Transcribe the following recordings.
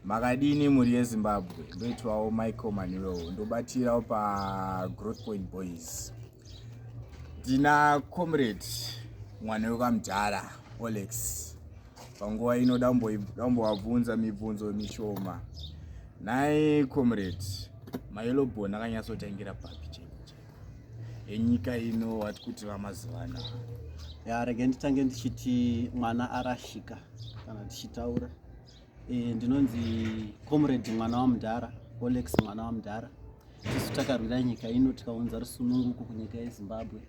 Makadini mhuri yeZimbabwe, ndoitwawo Michael Manuel, ndobatirawo paGrowth Point Boys. Ndina comrade mwana wekamudhara Olex, panguva ino dambovabvunza mibvunzo mishoma. Nhai comrade, mayelobon akanyatsotangira papi cheko cheko enyika ino wati kuti vamazivana? Ya, rege nditange ndichiti mwana arashika kana tichitaura Eh, ndinonzi comrade mwana wamudhara olex mwana wamudhara tisu takarwira nyika ino tikaunza rusununguko kunyika yezimbabwe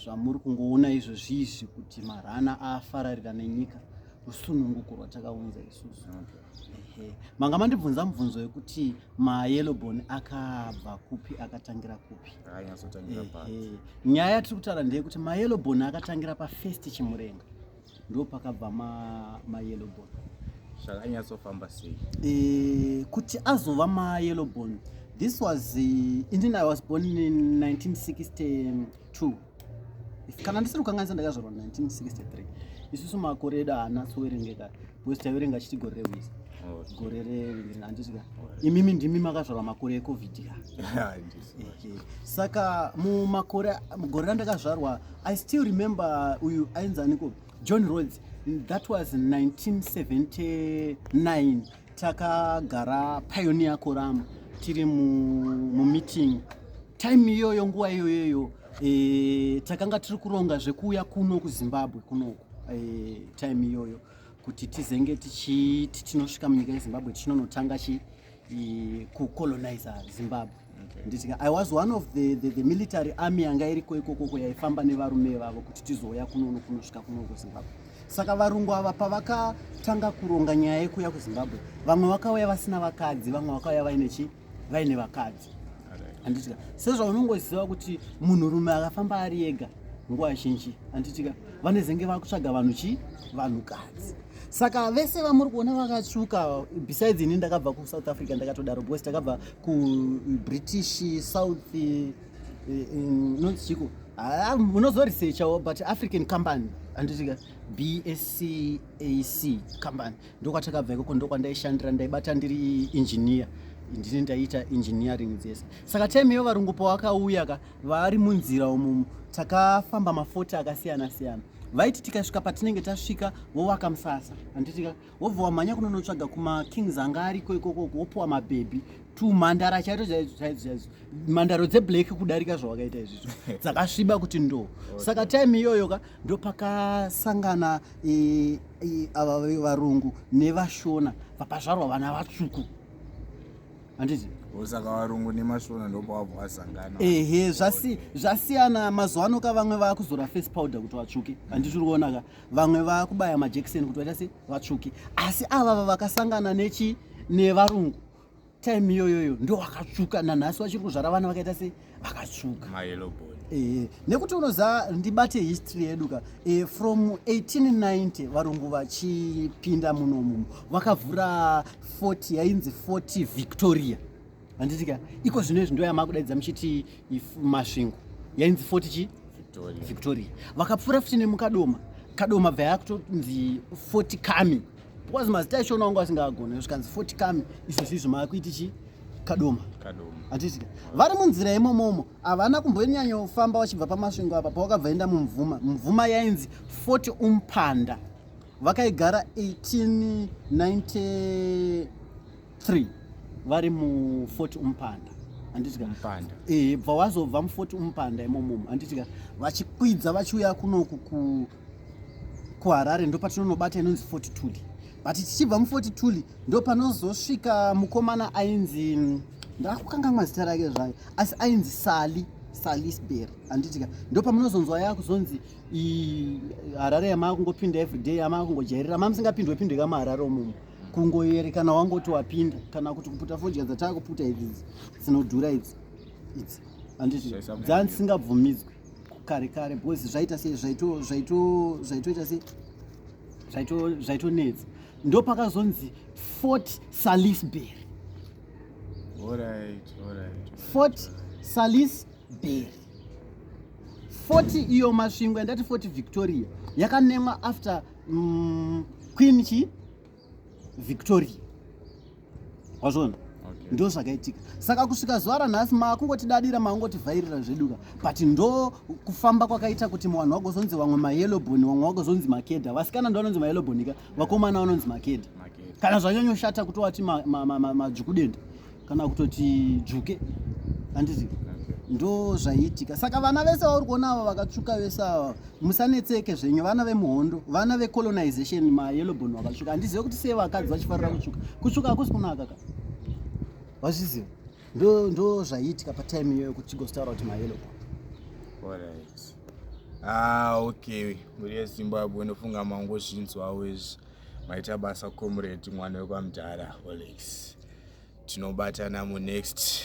zvamuri kungoona izvo zviizvi kuti marana afararira nenyika rusununguko rwatakaunza isusu ehe manga mandibvunza mubvunzo wekuti mayelobon akabva kupi akatangira kupi nyaya yatiri kutaura ndeyekuti mayelobon akatangira pafirst chimurenga ndopakabva ma, ma yellow bone zvakanyatsofamba sei e, kuti azova ma yellow bone this was uh, eh, indin i was born in 1962 kana ndisiri kukanganisa ndakazvarwa 1963 isusu makore edu haana sowerengeka because taiverenga chiti gore rehwizi gore rehandisika imimi ndimi makazvarwa makore ecovid saka mumakore mugore randakazvarwa i still remember uyu ainzi aniko john rods that was 1979 takagara pioneer korama tiri mumeeting mu time iyoyo nguva iyoyoyo e, takanga tiri kuronga zvekuuya kuno kuzimbabwe kunoku e, time iyoyo kuti tizenge tichiti tinosvika munyika yezimbabwe tichinonotanga chi e, kucolonize zimbabwe nditika i was one of the, the, the military army yanga iriko ikokoko yaifamba nevarume vavo kuti tizouya kunono kunosvika kuno kuzimbabwe saka varungu ava pavakatanga kuronga nyaya yekuuya kuzimbabwe vamwe vakauya vasina vakadzi vamwe vakauya vaine chi vaine vakadzi handitika sezvaunongoziva kuti munhurume akafamba ari ega nguva zhinji handitika vanezenge vakutsvaga vanhu chii vanhukadzi saka vese vamuri kuona vakatsvuka besides ini ndakabva kusouth africa ndakatodaro because takabva kubritish south eh, eh, nonzichiko ah, munozoresearchawo but african company anditika bscac company ndokwatakabva ikoko ndokwandaishandira ndaibata ndiri engineer ndini ndaiita engineering dzese saka time iyo varungu pawakauya ka vaari munzira umumu takafamba mafoti akasiyana siyana vaiti tikasvika patinenge tasvika vovaka musasa handitika wobva wamhanya kunonotsvaga kumakings anga ariko ikoko wopuwa mabhebhi tumhandara chaito chaizo chaizo chaizo mhandaro dzeblack kudarika zvawakaita izvizvo dzakasviba kuti ndo saka time iyoyo ka ndopakasangana e, e, ava varungu nevashona vakazvarwa vana vatsvuku handiti osaka varungu nemashona ndopavabva vasangana ehe zvasi, zvasiyana mazuva ano ka vamwe vakuzora face powder kuti vatsvuke handiti uri kuona ka vamwe vakubaya majekiseni kuti vaita se vatsvuke asi avava vakasangana nechi nevarungu time iyoyoyo ndo wakatsvuka nanhasi vachiri kuzvara vana vakaita sei vakatsvuka e, nekuti unoziva ndibate history yedu ka e, from 1890 varungu vachipinda munomumu vakavhura fort yainzi fort victoria handiti ka iko zvino izvi ndo yamakudaidza muchiti masvingo yainzi fort chi victoria vakapfuura futi nemukadoma kadoma bva yakutonzi fort kami because mazita acho unaonga asingagone zvikanzi foti kami izvo zvizvo maakuiti chi kadoma hatisika vari munzira yemomomo havana kumbonyanyofamba vachibva pamasvingo apa pavakabva enda mumvuma mvuma yainzi foti umpanda vakaigara 1893 vari mufoti umpanda handitika bva wazobva mufoti umpanda imomomo handitika vachikwidza vachiuya kunoku kuharare ndopatinonobata inonzi fortitude but tichibva mufortitude ndopanozosvika mukomana ainzi mm, ndakukangamwa zita rake zvayo asi ainzi sali salisbury handitika ndopamunozonzwa yakuzonzi harare yamaa kungopinda everyday yamaa kungojairira maa musingapindwe pindwe kamaharare omumu kungoyere kana wangoti wapinda kana kuti kuputa fodya dzataakuputa idzi dzinodhura idzi idzi handiti dzaa dzisingabvumidzwe kare kare boys zvaita sei zvaito zvaito zvaitoita sei zvaito zvaitonetsa ndo pakazonzi fort salisbury alright alright fort salisbury fort iyo masvingo yandati fort victoria yakanemwa after mm, queen chi victoria wazvona okay. ndo zvakaitika saka kusvika zuva ranhasi makungotidarira makungotivhairira zveduka but ndo kufamba kwakaita kuti vanhu vagozonzi vamwe mayeloboni vamwe vagozonzi makeda vasikana ndo vanonzi mayeloboni ka vakomana vanonzi makeda kana zvanyanyoshata kutowati madzvukudenda ma, ma, ma, ma, kana kutoti dzvuke handiti ndo zvaiitika saka vana vese vauri kuona ava vakatsvuka vese ava musanetseke zvenyu vana vemuhondo vana vecolonization mayellowbon vakatsvuka handizive kuti sei vakadzi vachifarira kutsvuka kutsvuka hakusi kunaka ka vazviziva ndo ndo zvaiitika patime iyoyo kuti chigostaura kuti mayellowbon ah, okay mhuri yezimbabwe unofunga mangozvinzwawo izvi maita basa comrade mwana wekwamdhara olex tinobatana munext